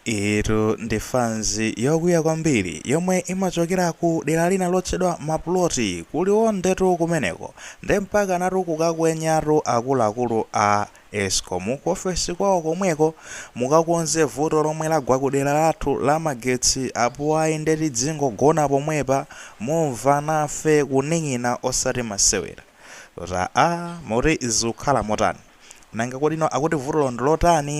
Iyitu ndi fans yokwiya kwambiri yomwe imachokera ku dera lina lotchedwa Maploti ku Liwonde tu kumeneko nde mpakanatu kukakwenyatu akuluakulu a Escom ku ofesi kwawo komweko mukakonze vuto lomwe lagwa ku dera lathu la magetsi apo ayi nde tidzingogona pomwepa mumva nafe kuning'ina osati masewera. Kuti aa, moti zikukhala motani? Nanga kodino akuti vutolo ndi lotani?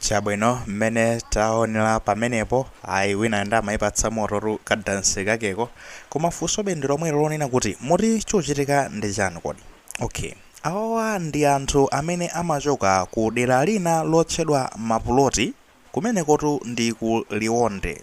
chabwino mmene taonera pamenepo ayi wina nde amayipatsa mototu kadansi kakeko koma funso be ndi lomwelo lonena kuti moti chochitika ndi chani kodi okay awawa ndi anthu amene amachoka ku dera lina lotchedwa mapuloti Kumenekotu ndi ku Liwonde.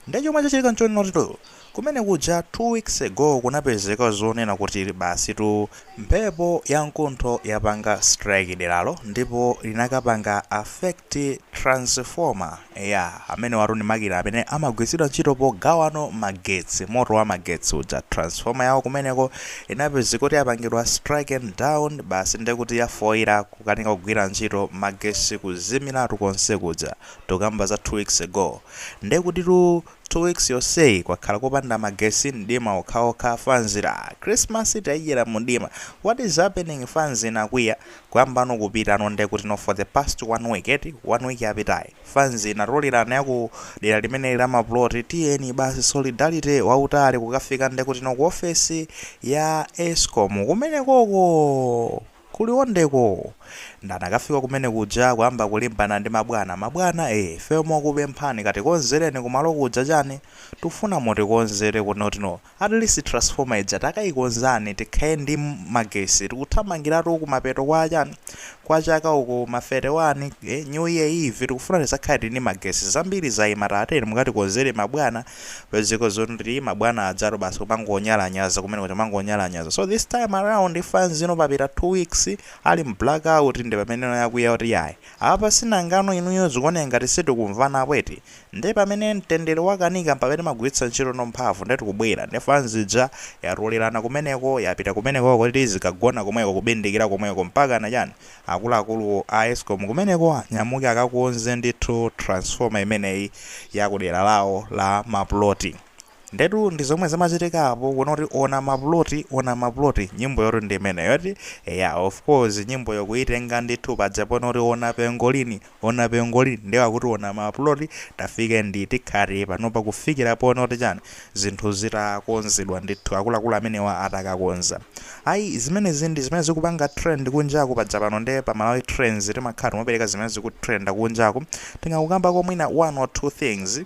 Nde chomwe chachitika nchonena kutitu kumene kuja two weeks ago kunapezeka zonena kuti basitu mphepo ya mkuntho yapanga strike deralo ndipo linakapanga affect transformer. Eya, amenewatu ndi makina amene amagwiritsidwa ntchito pogawano magetsi, moto wa magetsi uja. Transformer yawo kumeneko inapezeka kuti yapangidwa stricken down basi ndekuti yafoira. kukanika kugwira ntchito magesi kuzimilatu konse kuja tokamba za 2 weeks ago nde kutitu 2 weeks yonseyi kwakhala kopanda magesi mdima okhaokha fanzi ya christmas taidyera mudima what is happening fanzi inakwiya kuyambano kupitano nde kutino for the past 1 week eti 1 week yapitayi fanzi inatolerana yaku dera limeneli la mapuloti tiyeni basi solidarity wautali kukafika nde kutino ku ofesi ya escom kumenekoko Ku Liwonde ko! Nde anakafika kumene kuja kuyamba kulimbana ndi mabwana. Mabwana ee! Ifeyo mokupemphani katikonzereni kumalo kuja chani? Tufuna mutikonzere kunotu no. At least transformer ija takaikonzani tikhale ndi magesi tikuthamangiratu kumapeto kwa chani? Kwa chaka uku ma 31 ee! New Year Eve tikufuna tizakhale tili ndi magesi. Zambiri zaima tatiyeni mukatikonzere mabwana. kupezeka zonena kuti mabwana ajatu basi kumangonyalanyaza kumene kuja mangonyalanyaza so this time around fans ino papita 2 weeks ali mblack out ndi pamene ino yakwiya kuti yayi apa tsinangano inuyo zikuoneka ngati sitikumvanapo eti nde pamene mtendere wakanika mpamene magwiritsa ntchito no mphamvu nde tikubwera nde fans ija yatolerana kumeneko yapita kumeneko kuti zikagona komweko kubindikira komweko mpakana chani Akuluakulu a escom kumeneko anyamuke akakonze ndithu transformer imeneyi ya ku dera lawo la mapuloti. Ndetu ndi zomwe zimachitika apo, kunena kuti ona mapuloti, ona mapuloti, nyimboyotu ndi imeneyo eti? Eya, of course nyimbo yokuitenga ndithu paja ponena kuti ona pengolini, ona pengoli nde akuti ona ma plot tafike ndi tikhala panopa kufikira ponoti chani zinthu zitakonzedwa ndithu akuluakulu amenewa atakakonza ayi zimenezi ndi zimene zikupanga trend kunjaku paja pano nde pa malawi trends timakhala tikumapereka zimene zikutrenda kunjaku tingangokambako mwina one or two things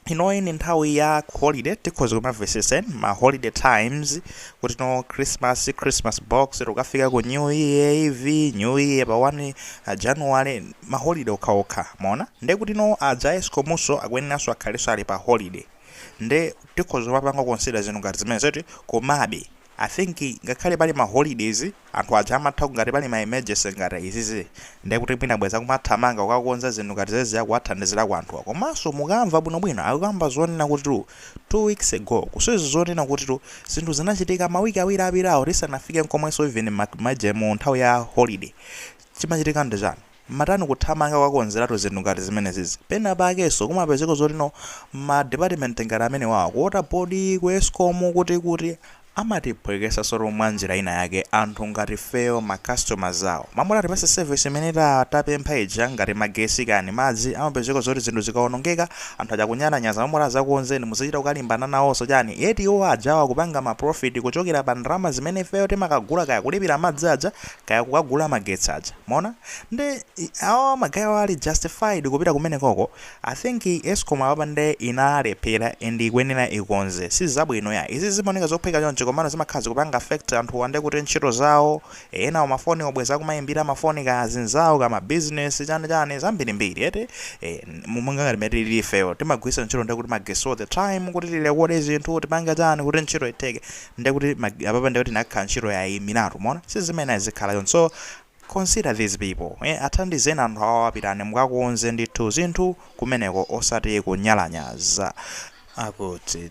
inoyi ni nthawi ya holiday tikhoza kumavesesen ma holiday times kuti no christmas christmas box tikafika ku new year eve new year pa 1 uh, january ma holiday okhaokha mwaona nde kuti no aja escomuso akuyeneranso akhalenso ali pa holiday nde tikhoza kumapanga consider zinthu ngati zimene zoti komabe i think ngakhale pali ma holidays Anthu aja amatha ngati pali ma emergency ngati izizi nde kuti mwina bwezi akumathamanga kukakonza zinthu ngati zezi ya kuwathandizirako anthuwa komanso mukamva bwino bwino akukamba zonena kutitu 2 weeks ago kuseri zonena kutitu zinthu zinachitika ma week awiri apitawo tisanafike nkomwenso even maje mu nthawi ya holiday chimachitika ndi chani? matani kuthamanga kukakonzeratu zinthu ngati zimenezizi. Pena pakenso kumapezeka zoti no ma department ngati amenewawa, ku water board, ku escom, kuti kuti amatiphwekesasotu mwa njira ina yake anthu ngati ifeyo ma customers awo. Mmalo moti atipatse service imene tapempha ija ngati magesi kani madzi amapezeka zoti zinthu zikaonongeka anthu aja kunyalanyaza mmalo moti azakukonzereni muzichita kukalimbana naonso chani yet iwo ajawo akupanga ma profit kuchokera pa ndalama zimene ifeyo timakagula kaya kulipira madzi aja kaya kukagula magetsi aja. Mwaona? Nde i- awa ma guy-awa ali justified kupita kumenekoko. I think Escom apapa nde inalephera and ikuyenera ikonze. Si zabwino ya. Izi zimaoneka zophweka chonchi komano zimakhala zikupanga affect anthuwa nde kuti ntchito zawo, enawo mafoni bwezi akumaimbira mafoni kaya azinzawo kaya ma business chani chani zambirimbiri eti. Eh, monga ngati mmene tilili ifeyo timagwiritsa ntchito nde kuti magesi all the time kuti tilekode zinthu tipange chani kuti ntchito itheke. ndiye kuti apapa ndiye kuti nakhala ntchito yaimiratu mwaona si zimene zikhala choncho so consider these people eh, athandizeni anthu awo apitani mukakonze ndithu zinthu kumeneko osati kunyalanyaza akuti